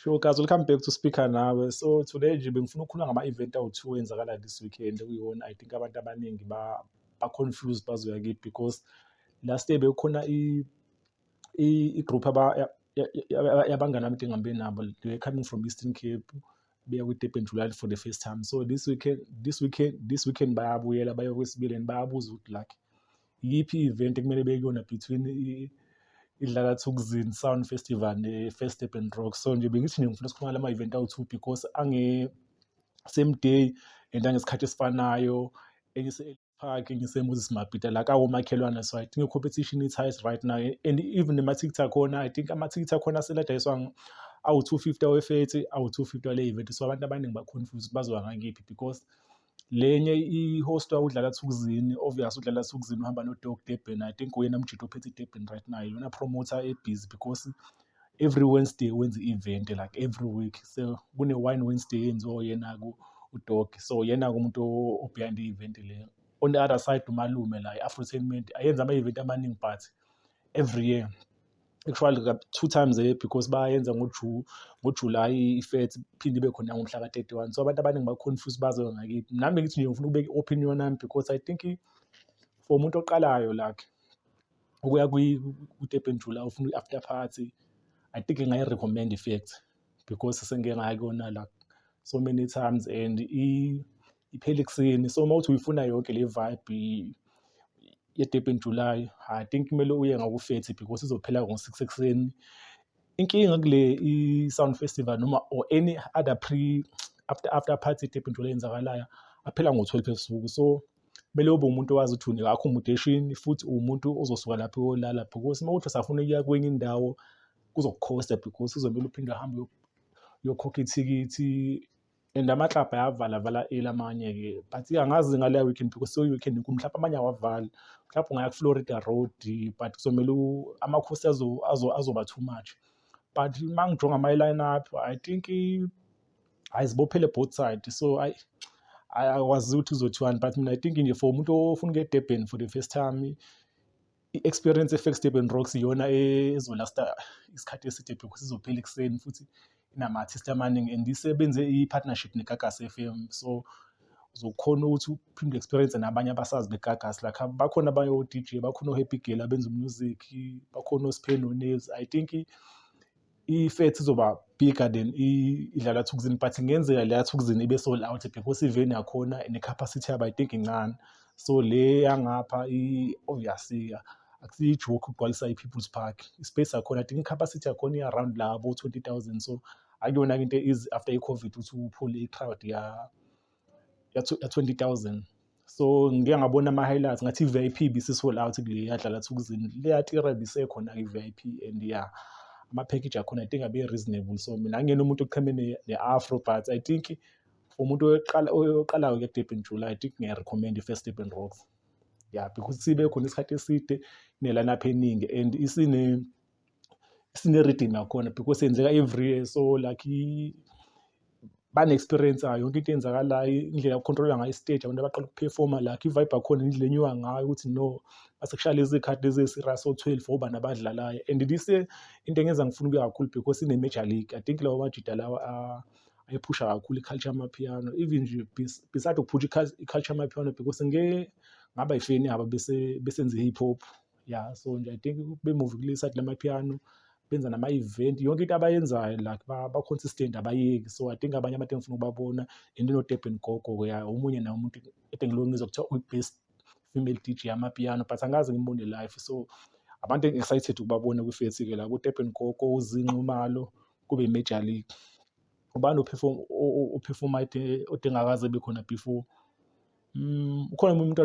Sure guys, welcome back to Speaker Nawe. So today nje bengifuna ukukhuluma ngama-event awu-two enzakala this weekend kuyona I think abantu abaningi ba ba-confused bazoya kiphi because last year bekukhona i-group yabangani abadinga ngihambe nabo they were coming from Eastern Cape beya kwi-Durban July for the first time so this weekend this weekend this weekend bayabuyela baye kwesibili and bayabuza ukuthi like iyiphi i-event ekumele bekuyona between idlala thukuzini sound festival ne-first urban rock so nje bengithi nje ngifuna sikhuluma lama event awu-two because ange same day and angesikhathi esifanayo phake ngisemoses mabhida la kawomakhelwane so i think i-competition is highest right now and even nemathikithi akhona i think amathikithi akhona seladayiswa awu-two fifty awefethi awu-two fifty wale-event so abantu abaningi bakhonfuse ukuthi bazowa ngakiphi because lenye i-host udlala thukuzini obvious udlala thukuzini uhamba nodog durban i think uyena mjita ophethe idurban right now iyona promoter ebhizi because every Wednesday wenza i-event like every week so kune-wine Wednesday yenziwa uyena udogi so yena-ke umuntu o-behind i-event le on the other side umalume la i-afrotainment ayenza ama-event amaningi but every year actually two times a year because bayenza ngojulayi ifethi phinde ibe khona ngomhla ka-31 so abantu abaningi baconfuse bazoyo ngakithi nami bengithi nje ngifuna ukubeka i-opinion yami because i think for umuntu oqalayo like ukuya kwi-Durban July ufuna i-after party, I think ngingayi-recommend-a infact because sengike ngaya kuyona la so many times and iphela ekuseni. So uma uthi uyifuna yonke le vibe ye-Durban July, I think kumele uye ngawufethi because izophela ngo-six ekuseni. Inkinga kule i-Sound Festival noma or any other pre after after party e-Durban July eyenzakalayo, aphela ngo-twelve ebusuku so. kumele ube umuntu owazi ukuthi unika akho mudeshini futhi uwumuntu ozosuka lapho uyolala because uma uthi usafuna ukuya kwenye indawo kuzokukhosta because uzomele uphinde uhambe uyokhokha ithikithi and amaklabhu ayavala vala eli amanye-ke but angazi ngaleya weekend because seweekend enkulu mhlawumbe amanye awavali mhlawumbe ungaya kuflorida road but kuzomele amakhosi azoba too much but uma ngijonga ama-line up i think hayi zibophele both side so ayi akwazi ukuthi uzothiwani but mina i think nje for umuntu ofuna ukuya edurban for the first time i-experience efex durban rocks iyona ezolasta isikhathi eside because izophela ekuseni futhi inama-artist amaningi and isebenze i-partnership negagas f m so uzokhona ukuthi uphinde experience nabanye abasazi begagas lakha bakhona abanye o-dj bakhona o-happy girl abenza umusic bakhona osiphe nonaves i think i-fat izoba bigger than idlala thukuzini but kungenzeka le yathukuzini ibe sold out because iveni yakhona ne-capacity yabo i think incane so le yangapha i-ovyasika oh, akusiyi-joke ukugcwalisa i-people's park i-space yakhona i think i-capacity yakhona i-around labo 20 000 so akuyona-ke into easy after i-covid ukuthi uphule i-crowd ya ya 20000 so ngike ngabona ama-highlights ngathi i-vip bisi-sold out kule yadlala thukuzini leyatira bisekhona i-vip and ya ama-package akhona i think abe-reasonable so mina angiyena umuntu oqheme ne-afro but i think for umuntu oyoqalayo ke kudebin jula i think ngiyarecommend i-first debin rocks ya because sibe khona isikhathi eside ne-lineup eningi and isine sine-rhythm yakhona because yenzeka every year so like bane-experience-ayo yonke into eyenzakalayo indlela yoku-control-a ngayo i-stage abantu abaqala ukuphefoma like i-vibe yakhona indlela enyuka ngayo ukuthi no masekushaya lezi khathi lezi ezi-serious o-twelve obani abadlalayo and this year into engenza ngifuna ukuya kakhulu because ine-major league i think lawa majida lawa uh, ayiphusha kakhulu i-culture amapiano even nje beside ukuphusha i-culture amapiano because ngeke ngaba yifeni yabo bese besenze i-hip hop ya so nje i think bemuvikulisa kula mapiano benza nama-event yonke into abayenzayo like ba-consistent abayeki so i think abanye abantu engifuna ukubabona and inodurban gogo-ke ya omunye naye umuntu ede ngilongiza kuthiwa uyi-best female dj yamapiano but angazi ngimbone life so abantu engi-excited ukubabona kwifethi-ke la kudurban gogo uzinxumalo kube major league ubani ophefoma odengakaze bekhona before um ukhona umuntu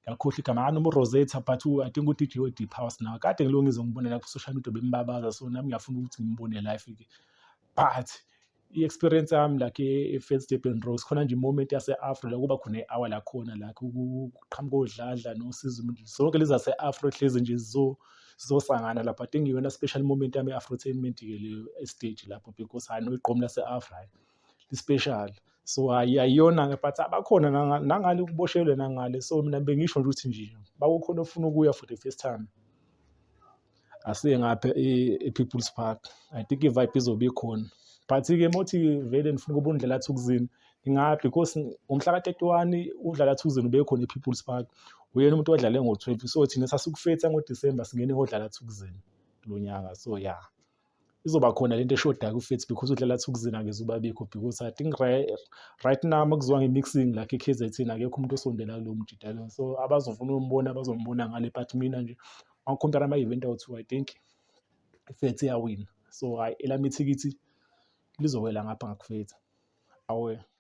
ngakhohlwa igama akanoma uRosetta but I think uDJ we-Deep House nawo kade ngiloko ngizombona la ku-social media bembabaza so nami ngiyafuna ukuthi ngimbone live-ke but i-experience yami like e-Fedstebben Rose khona nje imoment yase-afro la kuba khona i-hour lakhona la kuqhamuka odladla nosizo zonke lezi zase-afro hlezi nje zizosangana lapho i think iyona special moment yami e-afrotainment-ke leyo estage lapho because hhayi noyigqomu lase-afro hhayi li-special. So hhayi ayiyona-ke but abakhona nangale kuboshelwe nangale so mina bengisho nje ukuthi nje bakukhona ofuna ukuya for the first time asiye ngapha e-people's park i think i-vibe izobe ikhona but-ke uma uthi vele ndifuna ukuba undlela thukuzini ngingaphi because ngomhla ka-thirty-one udlala thukuzini ubekhona e-people's park uyena umuntu odlale ngo-twelve so thina sasikufetha ngodisemba singene kodlala thukuzini kulo nyaka so ya. izoba khona lento eshodayo kufethi because udlala athi ukuzina ngeze ubabikho because i think right now makuziwa nge-mixing lakhe i-kzn akekho umuntu osondela kulowo mjidalo so abazofuna umbona bazombona ngale but mina nje ngakhompyara ama-event awu-two i think ifethi iyawina so hhayi elami ithikithi lizowela ngapha ngakufethi awe